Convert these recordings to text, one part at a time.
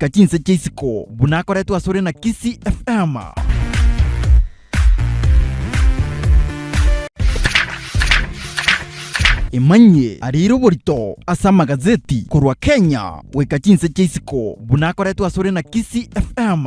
Ka chinse chia isiko buna akoretwe asore na Kisii FM. Imanyie arire oborito ase amagazeti korwa Kenya goika chinse chia isiko buna akoretwe asore na Kisii FM.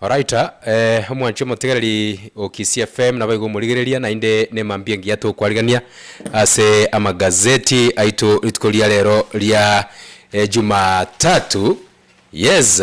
Alright, omwanchi omotegereri o Kisii FM nabo igo omorigereria naende ne mambia engiya togokwarigania ase amagazeti aito rituko ria rero ria Jumatatu, yes.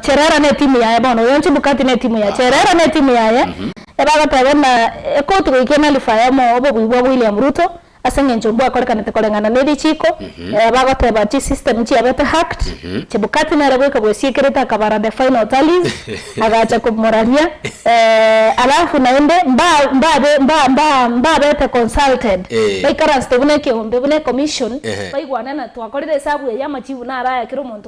Cherera netimu yaye bono oyo Chebukati netimu ya Cherera netimu yaye ebagoteba buna ekoti goika enalifu aye omo obobui bwa William Ruto aseng'encho mbwakorekanete koreng'ana nerichiko ebagoteba chisystem chiabete hacked Chebukati nere goika bwesiekerete akabara the final tallies agacha komoraria alafu naende mba mbabe mba mba mbabete consulted baikaransete buna ekeombe buna ecommission baigwane buna twakorire esabu eye amachibu naro aya kera omonto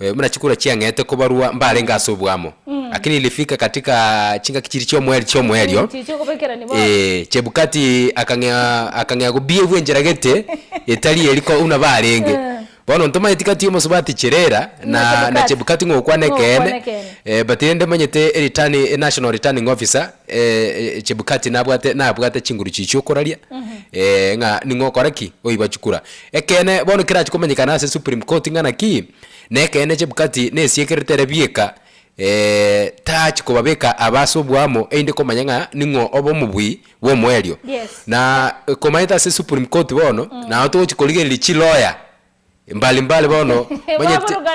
eh, buna chikura chiang'ete kobarwa mbarenge ase obwamo, lakini ilifika katika chingaki chiria chiomoerio chiomoerio Chiche kobekerani bono. eh, Chebukati akang'ea akang'ea gobiegwa enchera gete etari eri ko buna barenge. Bono ntomaeti kati omosubati Cherera Na na Chebukati. na Chebukati ng'okwana Ng'okwana ekeene ekeene. eh, but rende omanyete eritani enational returning officer eh, eh, Chebukati nabwate nabwate chinguru chichia okoraria eh, ng'a ning'o okore ki oiba chikura. Ekeene, bono kerache komenyekana ase Supreme Court ng'a naki nekeene Chebukati nesiekerete ere bieka, ee, tachi kobabeka aba ase oboamo einde komanya ng'a ning'o obe omobui bw'omoerio. Yes. Na komanyete ase Supreme Court bono nao togochi korigereria chiloya mbali mbali bono omanyete Baburuka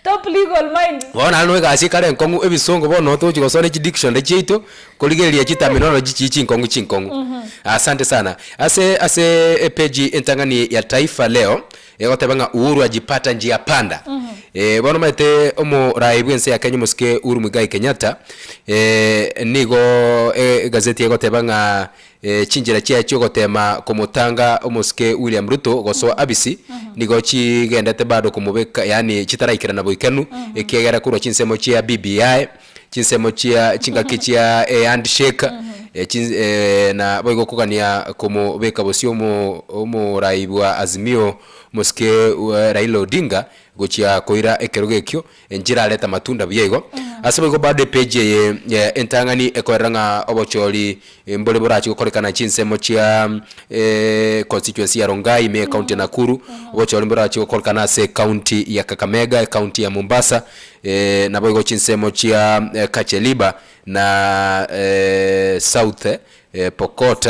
top legal mind. bono naende no egasi ekare enkong'u ebisongo bono nao togochi gosoma ne chidictionary chiaito. Korigereria chitaminoro chichii chinkong'u chinkong'u. Asante sana. Ase ase epage entang'ani ya Taifa Leo egoteba ng'a Uhuru ajipata njia panda. Eh bono omanyete omoraai bw'ense ya Kenya omosike Uhuru Muigai Kenyatta eh nigo egazeti egoteba ng'a chinchera chiaye chi'ogotema komotanga omosike William Ruto gosoa abisi nigo chigendete bado komobeka yaani chitaraikerana boikanu ekiagera korwa chinsemo chia BBI chinsemo chia chingaki chia e handshake e chin e na boigo okogania komobeka bosio omo omorai bwa Azimio mosike we Raila Odinga gochia koira ekerogo ekio enchera arete amatunda buya igo. Ase boigo bado epage eye ya entang'ani ekorera ng'a obochori Mbore borachie gokorekana chinsemo chia e constituency ya Rongai me ecounty ya Nakuru, gocha ore mborachie gokorekana ase ecounty ya Kakamega, ecounty ya Mombasa, e naboigo chinsemo chia Kacheliba na e South Pokot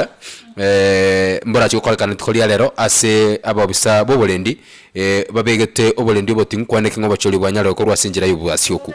e mborachie gokorekana rituko ria rero ase abobisa boborendi e babegete oborendi oboting'u kwaneke ng'a obochoria bwanyaroe korwa ase enchera y'obwasi okwo.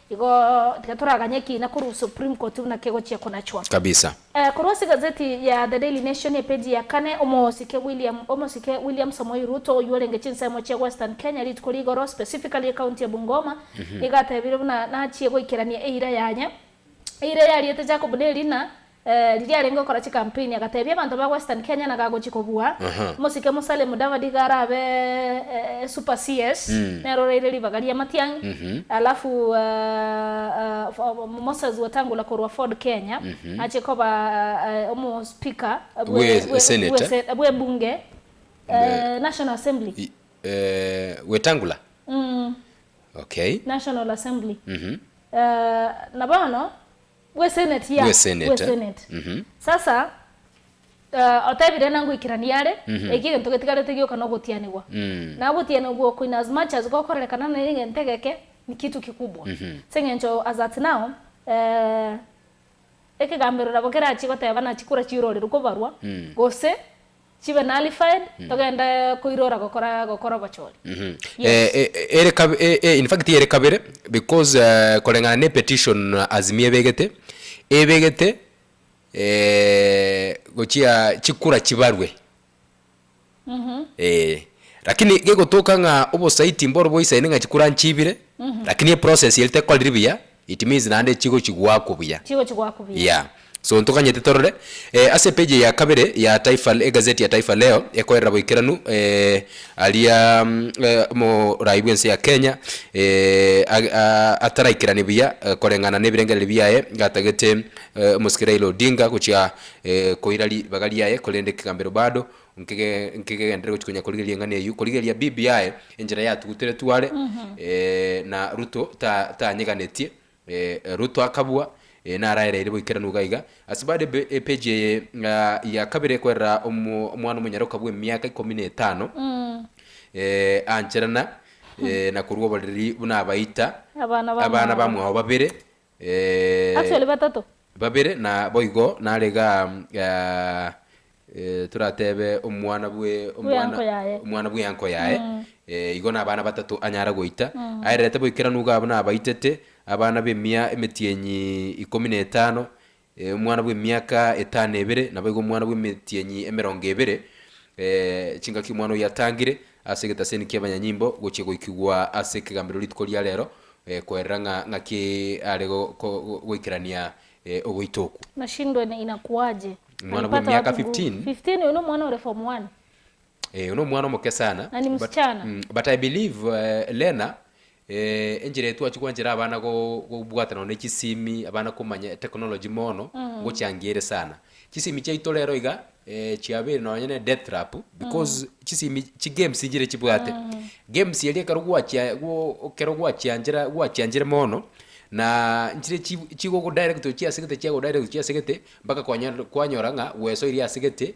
Igo tiga toraganye ekiina korwa Supreme Court buna kegochia konachwa. Kabisa. Korwa ase egazeti ya The Daily Nation epeji ya kane, omosike William omosike William Samoei Ruto oyio orenge chinsemo chia Western Kenya rituko ria igoro specifically ecounty ya Bungoma nigo atebire buna nachie goikerania eira yaye eira eyariete Jacob ne erina Ee, riria arenge okora chikampeini agateebia abanto ba Western Kenya naga agochia kobua omosike Musalia Mudavadi iga arabe super CS nere oraire ribaga ria Matiang'i alafu Moses Wetangula korwa Ford Kenya achie koba omospeaker bwe ebunge, National Assembly. Wetangula? National Assembly. Na bono. Bweseneti, ya, Bwesenete. bweseneti. Mhm. Sasa, eh, otebire na ngoikerania are, Mhm. eki egento getigarete gioka nogotianigwa. Mm. Na gotianigwa oko in as much as gokorerekana nere egento egeke, ni kitu kikubwa. Mhm. Ase eng'encho as at now, eh, ekegambero nabo kerachie goteba nachi kora chiororeru kobarwa, Mm. gose Chibe nullified, togende koirora gokora gokora obochori. Yes. Eh, eh, eh, ere kab- eh, eh, in fact ere kabere because eh, koreng'ana ne petition Azimio ebegete ebegete eh, gochia chikura chibarwe eh, lakini gegotoka ng'a obosaiti mboro bwaisaine ng'a chikura nchibire lakini eprocess ere tekorire buya It means naende chigochigwa akwo buya. Chigochigwa akwo buya. Yeah. So ntoganyete torore eh, ase epeji eye ya kabere ya Taifa, egazeti ya Taifa Leo ekoerera boikeranu eh, aria eh, omoraai bw'ense ya Kenya eh, ag, a, ataraikerani buya eh, koreng'ana n'ebirengereri biaye gatagete eh, omosike Raila Odinga gochia eh, koira ribaga riaye korende kegambero bado Nkege nkegenderere gochia konya korigereria eng'ana eyio, korigereria bibi yaye enchera yatugutere tware, eh, na Ruto ta tanyeganetie, eh, Ruto akabua, eh, naraereire boika era nuga iga. Ase baada ebe epage eye ah ya kabere kwerera omo omwana omonyaroka bwe miaka ikomi na etano, eh, ancherana, eh, na korwa oboriri buna abaita Abana ba abana mwao. bamwao babere. Actually batato. Babere na boigo nare ga toratebe omwana bwe omwana omwana bwe anko yaye igo na abana batato anyara goita aererete boikeranu iga abwo nabaitete abana bemia emetienyi ikomi na etano Ee, omwana bw'emiaka etano ebere, naboigo omwana bw'emetienyi emerongo ebere, ee, chingaki omwana oyio atangire ase egetaseni ki'abanyanyimbo gochia goikigwa ase ekegambero rituko ria rero, ee, koerera ng'a ng'aki are go- go- go- goikerania ee, ogoita okwo. Nashindwe na inakuaje. Omwana bwa Alipata miaka wapi nguvu? 15. 15 uyu ni omwana ore form one. Eh, uno omwana omoke sana. Na ni but, msichana. mm, but I believe eh, Lena Ee, enchera eye twachia gwanchera abana go gobwata nonye ne chisimi, abana komanya etechnology mono, ngochiangie ere sana. Chisimi chiaito rero iga, eh, chiabeire nonye ne death trap, because chisimi chigames nchire chibwate. Games eria ekero gwachia gwo ekero gwachianchera gwachianchire mono, na nchire chi chigogo direct ochia ase gete chiago direct ochia ase gete, mpaka kwanyar kwanyora ng'a gwesoirie ase gete,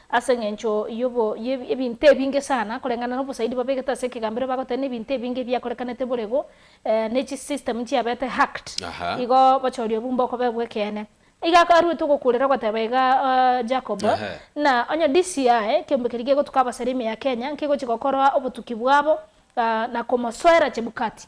Ase engencho y'obo y'ebinto ebinge sana koreng'ana n'obosaidi babegete ase ekegambero bagoteba n'ebinto ebinge ebiakorekanete borego ne chi system chiabete hacked Aha. igo bachoria obumbe okobe bw'ekeene. Iga akaruete ogokuurera ogoteba iga Jacob, Ehe. Ng'a onye DCI, ekeombe keria gegotuka abasare ime ya Kenya, nkegochia gokoroa obotuki bwabo na komosoera Chebukati.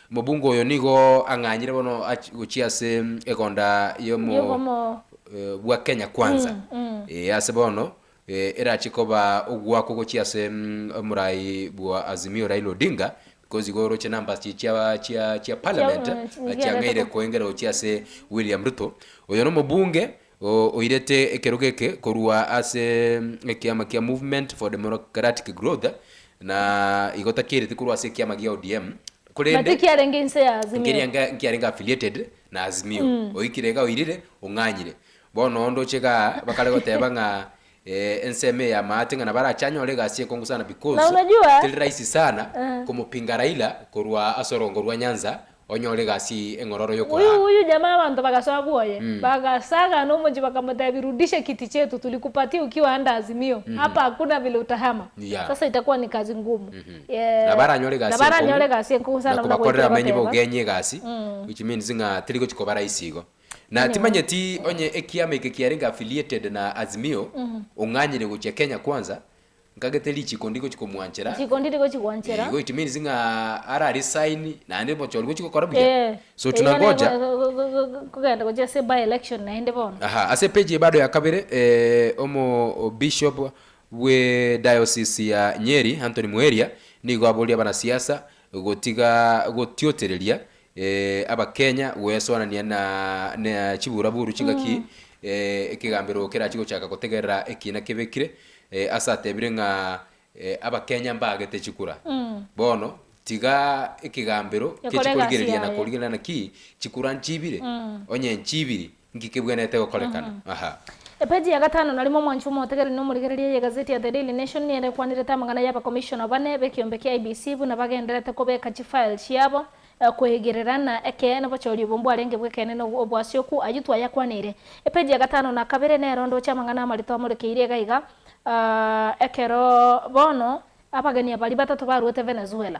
Mobunga oyo nigo ang'anyire bono ach gochia ase egonda Y'obomo. y'omoyo bwa Kenya Kwanza, ee, ase bono, ee, erache koba ogoakwa gochia ase omorai bwa Azimio Raila Odinga, because igo oroche numbers chi chia chia chia Parliament, Chiabuno, nigo chiang'eire erato. koengera gochia ase William Ruto. Oyo nomobunge Oo oirete ekerogo eke korwa ase ekiama kia Movement for Democratic Growth na igo takiereti korwa ase ekiama gia ODM korende Naki kiarenge inse ya Azimio. Nkeria nga nkiarenge affiliated na Azimio. Oikire iga oirire, ong'anyire. Bono onde oche igaa bakare goteba ng'a Ee, ensemo eye yamaate ng'a nabare ache anyore egasi ekongu sana Na because unajua teri rahisi sana uh, komopinga Raila korwa ase orongo rwa Nyanza onyore egasi eng'ororo huyu y'okoraa. huyu jamaa abanto bagasoa bwoye, Mm. bagasaga nomochie bakamotebi rudisha kiti chetu tulikupatia ukiwa under Azimio, hapa hakuna vile utahama. Yeah. Sasa itakuwa ni kazi ngumu. Mhm. Yeah. Nabare anyore egasi Nabare enkong'u anyore egasi enkong'u na sana buna kobakorera goetire abamenyi goteba. b'ogenyi egasi, Mm. which means ng'a teri gochi koba rahisi igo. Na timanyeti onye ekiama eke kiarenge affiliated na Azimio, ong'anyire gochia Kenya Kwanza, nkagete richiko ndi gochia komwanchera. Richiko ndiri gochia kwanchera. Igo it means ng'a ara resign naende bocha ori gochia gokora buya. Ee. So Erio nabo tunangoja. ego- kogenda gochia ase by election naende bono. Aha, ase page eye bado ya kabere, eh, omo bishop bwe diocese ya Nyeri Anthony Muheria nigo aboria abanasiasa gotiga gotiotereria Ee, Abakenya goesoanania na na chiburaburu chingaki ee, ekegambero kerachie gochaka gotegerera ekiina kebekire ee, ase atebire ng'a ee, Abakenya mbaagete chikura. Bono tiga ekegambero Gekore egasi kechikorigereria na yaye. korigereria naki chikura nchibire, onye nchibiri Nki kebwenerete gokorekana aha? Epeji ya gatano Narimo omwanchwa omotegereri na omorigereria y'egazeti ya The Daily Nation nere ekwanirete amang'ana y'abakomishona bane b'ekeombe kia IEBC buna bagenderete kobeka chifile chiabo kwegerera na ekeene bochori obo mbwarenge bw'ekeene na obwasioku. Ayio twayakwanirie epeji ya gatano na kabere nero ndoche amang'ana amarito amorekeirie iga iga, Ekero bono abageni abaria batato baruete Venezuela,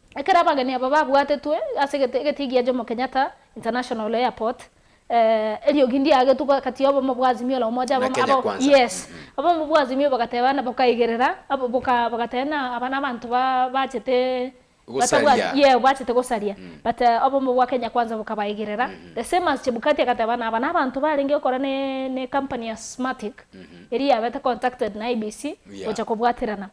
Ekero abageni aba babwatetwe ase egete egetingi gia Jomo Kenyatta International Airport, eh, eriogi ndiagetwe ko kati y'obomo bwa Azimio la Umoja, Na abamo Kenya abo, Kwanza. yes, Mm, mm. abomo bwa Azimio bagateba na bokaigerera, abo boka bagateba na aba nabanto ba bachete batabwati, Gosaria. yeah, bachete gosaria, Mm. but eh, obomo bwa Kenya Kwanza bokabaigerera, Mhm. the same as Chebukati agateba na aba nabanto barenge gokora ne ne company ya Smartic, eria yabete contacted na IEBC Yeah. gocha kobwaterana.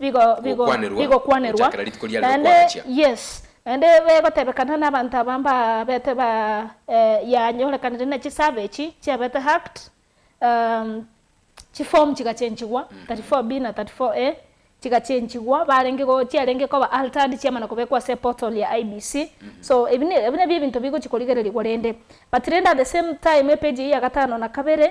bigo, bigo, gokwanerwa bigokwanerwa, gochakera rituko riare naende, rokwanachia. yes, naende begotebekana nabanto aba mbabete ba, eh, yanyorekanire ne chisurvey echi chiabete hacked, um, chiform chigachenchigwa, 34B na 34A, chigachenchigwa, barenge go, chiarenge koba altered chiamana kobekwa ase portal ya IEBC, so ebi ne, ebi nabio ebinto bigochi korigererigwa rende, but rende at the same time epage eyio ya gatano na kabere,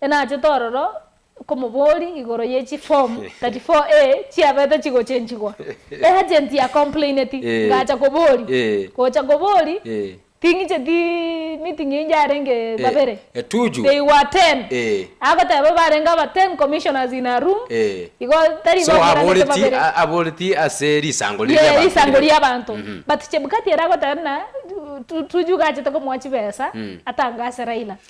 Enachete ororo okomobori igoro ye chi form 34A chiabete chigochenchigwa. E agent ya complaineti, ngacha kobori. Gocha kobori, ting'icheti meeting eyio yarenge babere. They were ten. Agoteba barenge aba ten commissioners in a room, igo tari baburanete babere. So aboreti ase risango riria abanto. Yee, risango ria abanto. But Chebukati ere agoteba buna Tuju gachete komoa chibesa atange ase Raila.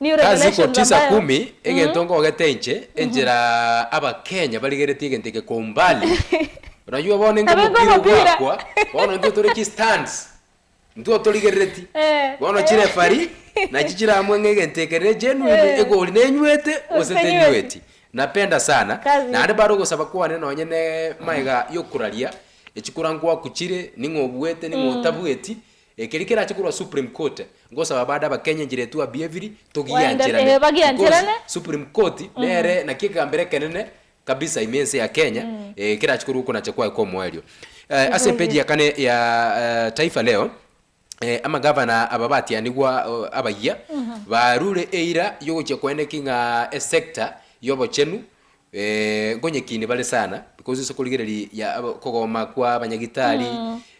New Kazigo Revelations tisa ambayo kumi, Egento ngogete inche, enchera Abakenya barigeretie egento eke kwa umbali, oranywa bono enga Ebe omopira ng'omopira. ogwakwa, bono intwe tore chistands, intwe otorigerereti, Eh, bono eh. chirefari nachi chiramue ng'a egento eke ne genuine, Eh. egori nenywete gose Gose tenyweti. tenyweti. Napenda sana, Kazi. naende bare ogosaba kwane nonye ne magega yokoraria, echikura ngwaku chire, ning'o obuete, ning'o otabueti, Ekeri kerache korwa supreme court ngosaba bade abakenye enchera etu abi ebiri togiancherane because supreme court nere naki ekegambero ekenene kabisa ime ense ya kenya ekerache korwa okonacha kwaye kwa omoerio ase epeji ya kane ya taifa leo amagavana aba batianigwa abayia barure eira yogochia koeneki ng'a esector yobochenu Eeh nkonyekinie bare sana because ase okorigereri ya aba okogoma kwa abanyagitari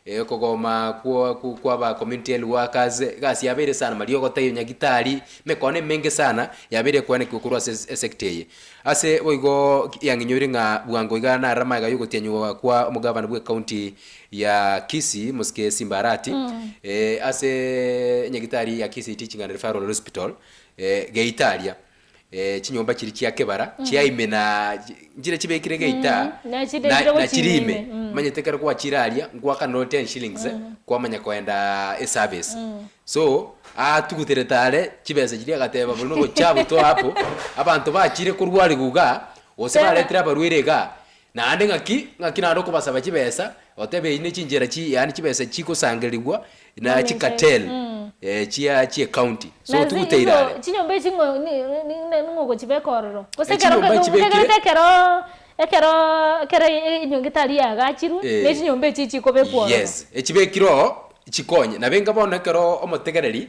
eh, okogoma kwo kwo kwa aba community health workers egasi yabeire sana mariogo taiyo nyagitari emekone emenge sana yabeire ekoenekiwa korwa ase ase esector eye ase boigo ki yang'inyoire ng'a bwango iga nare amaega ya ogotianywa kwa omogavana bwe county ya Kisii Mosike Simba Arati eh, ase nyagitari ya Kisii Teaching and Referral Hospital eh, geita aria eh, chinyomba chiria chia kebara chia ime na nchire chibekire geita Mm, na chidebire na gochina chiri ime ime, mm. manyete kero gwachire aria ngwaka no 10 shillings eh, kwamanya koenda eservice so atuguterete are chibesa chiria agateba bori nogocha gotoa apo abanto bachire korwa rigwa iga gose Tena. baretire abarwaire iga Naende ng'aki ng'aki naende okobasaba chibesa, otebe eyio ne chinchera chi yaani chibesa chigosangerigwa na Nonya enchera eye. chikatel Mm. eh, chia chie county. So Na zi- tigoteira igo are. chinyomba echi ng'o ni- ni- ni- ning'o ogochibeka ororo? Gose ekero Echinyomba nketo nkegerete nchibekire. ekero ekero ekero e- enyonga etari yaagachirwe, na Eh. echinyomba echi chikobekwa ororo. Yes, echibekire oo chikonye. Nabe inga bono ekero omotegereri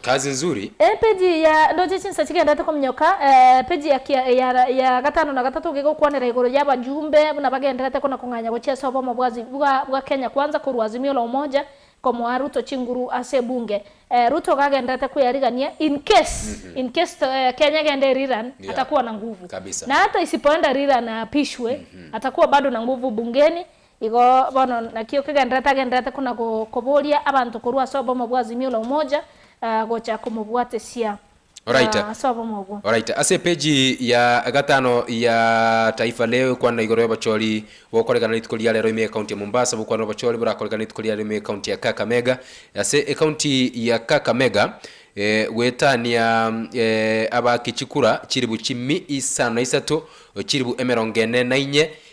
Kazi nzuri. Epeji ya Ndoche chinsa chigenderete kominyoka, epeji ya kia eya ya gatano na gatato gegokwanera igoro ya abajumbe buna bagenderete kona kong'anya gochia ase obomo bwa zi bwa bwa Kenya Kwanza korwa Azimio la Umoja komoa Ruto chinguru ase ebunge. Eh, Ruto iga agenderete kweyarigania in case, in case to eh, Kenya egende eri Iran Yeah. atakuwa na nguvu. Kabisa. Na hata isipoenda eri Iran aapishwe, atakuwa bado na nguvu bungeni, Igo bono naki okegendererete agendererete kona koboria abanto korwa ase obomo bwa Azimio la Umoja gocha komobwatesia Oraite. ase obomo obwo. Oraite. Ase epeji ya gatano ya Taifa Leo ekwana igoro y'obochori bokoregana rituko ria rero ime ekaunti ya Mombasa bokwana obochori borakoregana rituko ria rero ime ekaunti ya Kakamega. Ase ekaunti ya Kakamega goetania abaaki chikura chilifu chimi isano na isato, chilifu emerongo ene na inye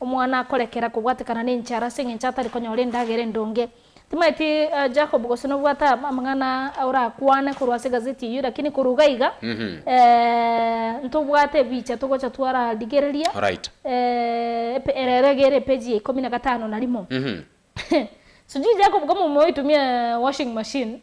Omwana akorekera kobwatekana nenchara ase engencho atari konyora endagera endonge. Timaeti Jacob gose nobwate amang'ana orakwane korwa ase egazeti eyio lakini korwa iga iga ntobwate ebicha togocha twararigereria Alright. Ere erege ere epeji ya ikomi na gatano na rimo. Sijui Jacob kama omoe oitumia washing machine.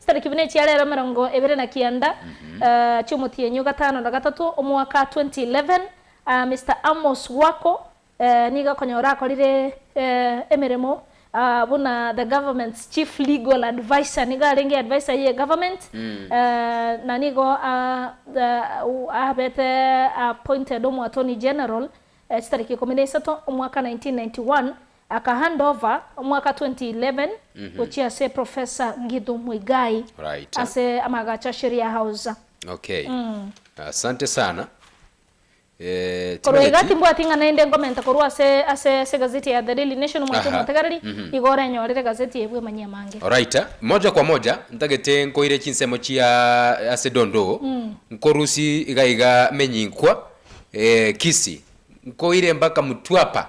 Chitariki buna echia rero emerongo ebere na kianda chi'omotienyi o gatano na gatato omwaka 2011, Mister Amos Wako nigo okonyora akorire emeremo buna the government's chief legal adviser, nigo arenge adviser ye government na nigo abete appointed omo Attorney General chitariki ikomi na isato omwaka 1991 Aka hand over omwaka 2011 gochia ase Professor Ngithu Muigai Right. ase amagacho a Sheria House. Okay. Asante sana. Eh, Korwa iga timanyeti. timbwati ng'a naende nkomenta korwa ase ase ase egazeti ya The Daily Nation omwete Aha. omotegereri, igo orenyorere egazeti eye bwa emanyia amange. Oraita, moja kwa moja ntagete nkoire chinsemo chia ase Dondoo, nkorusi iga iga Menyinkwa, eh, Kisii, nkoire mpaka Mtwapa,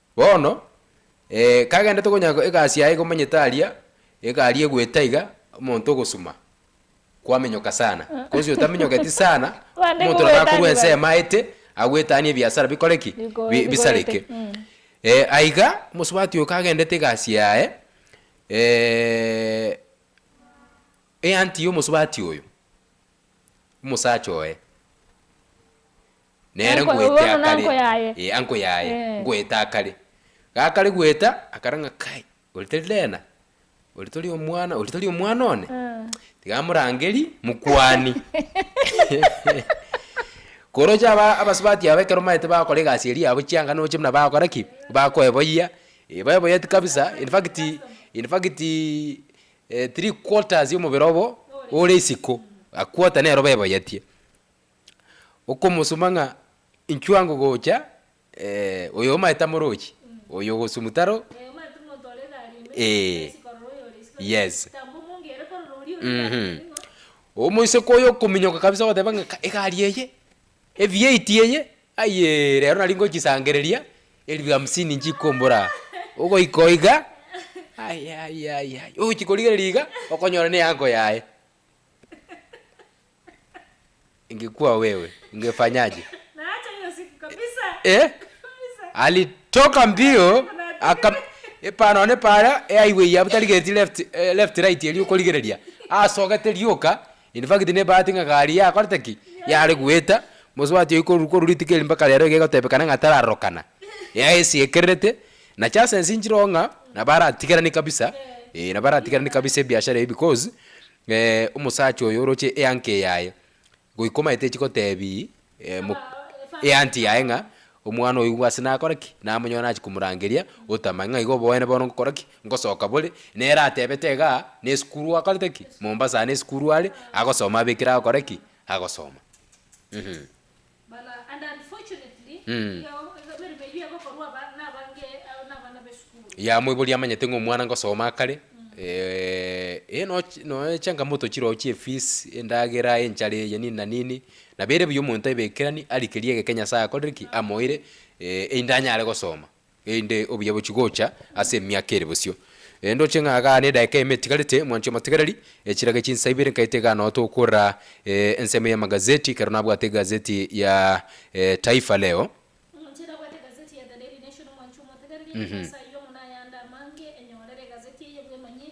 Bono, ee, kagendete konya egasi yaye komanyete aria egari egwete iga, omonto ogosuma, kwaminyoka sana, gose otaminyoketi sana, Bande omonto nabo akorwa kogwetania bare. ensemo aete, agwetanie ebiasara bikore ki? Biko- Bi- bikorete. bisareke. Mm. Eh, aiga, omosubati oyo kagendete egasi yaye, eh, eanti ya omosubati oyo, omosacha oye. Nere Anko- ngoeta bono akare. nanko yaye. Eh, anko yaye. Eh. Ngoeta akare. Gakare goeta, akara ng'a kai, ori tari Lena? Ori tori omwana, ori tori omwana one? Eh. Tiga amorangeri mokwani. Koroche aba abasubati aba ekero maete bagokora egasi eria yabo chianga noche buna bagokora ki? Bakoeboyia, eh baeboyeti kabisa, in fact in fact eh three quarters ya omobere obo ore isiko, a quarter nero baeboyetie. Okomosuma ng'a inchwa ngogocha, eh, oyo omanyete amorochi, oyo ogosum taro, Eh, omanyete omonto ore egari ime, Eh. esi korora oyo ore isi korora ime. Yes. Tamba omonge ere korora oria ore egari Mhm. ime nigo. Omoiseke oyo okominyoka kabisa ogoteba ng'a ka egari eye, e V eight eye, ayeee rero nari ngochisangereria, elfu hamsini nchikombora, ogoika oiga, ayayayaya, ogochi korigereria iga, okonyora ne eango yaye. ingekuwa wewe ungefanyaje? Naacha hiyo siku kabisa. Eh? Kabisa. Alitoka mbio aka epano ne para e highway ya butari geti left eh, left right eri okorigereria asogete rioka in fact ne bahati ng'a gari yakorete ki yare gweta mosubati oyo koru koru rituko eri mpaka rero iga egotebekana ng'a tararorokana yaesiekererete na chances nchire oo ng'a nabo aratigerani kabisa eh, nabo aratigerani kabisa ebiashara ebi because Ee, omosacha oyo oroche eankie yaye goika omanyete echigotebi e, mo, eanti yaye ng'a omwana oyo ase nakore ki, namonyora nachi komorangeria otama ng'a iga oboene bono ngokora ki, ngosoka bore, nere atebete iga nesukuru akorete ki, Mombasa aa nesukuru are, agosoma abekire agokora ki, agosoma, eeh. Yaya moibori amanyete ng'a omwana ngosoma akare eh no noe echangamoto chiroo chia efees endagera enchara eye nini na nini nabo ere buya omonto aebekerani arikerie egeke nyasaye akorire ki amoire eyi ndanyare gosoma. Erinde obuya bochie gocha ase emiaka ere bosio. Erinde oche ng'a gaana edaika eyemo etigarete, mwanche omotigareri. Echirage chinsa ibere nkaete gaana ote okora ensemo y'amagazeti, ekero nabwate egazeti ya Taifa Leo. Omonchene abwate egazeti ya The Daily Nation, mwanche omotigareri, ache ase ayio, mono ayande amange, enyorere egazeti eye bw'emanyie,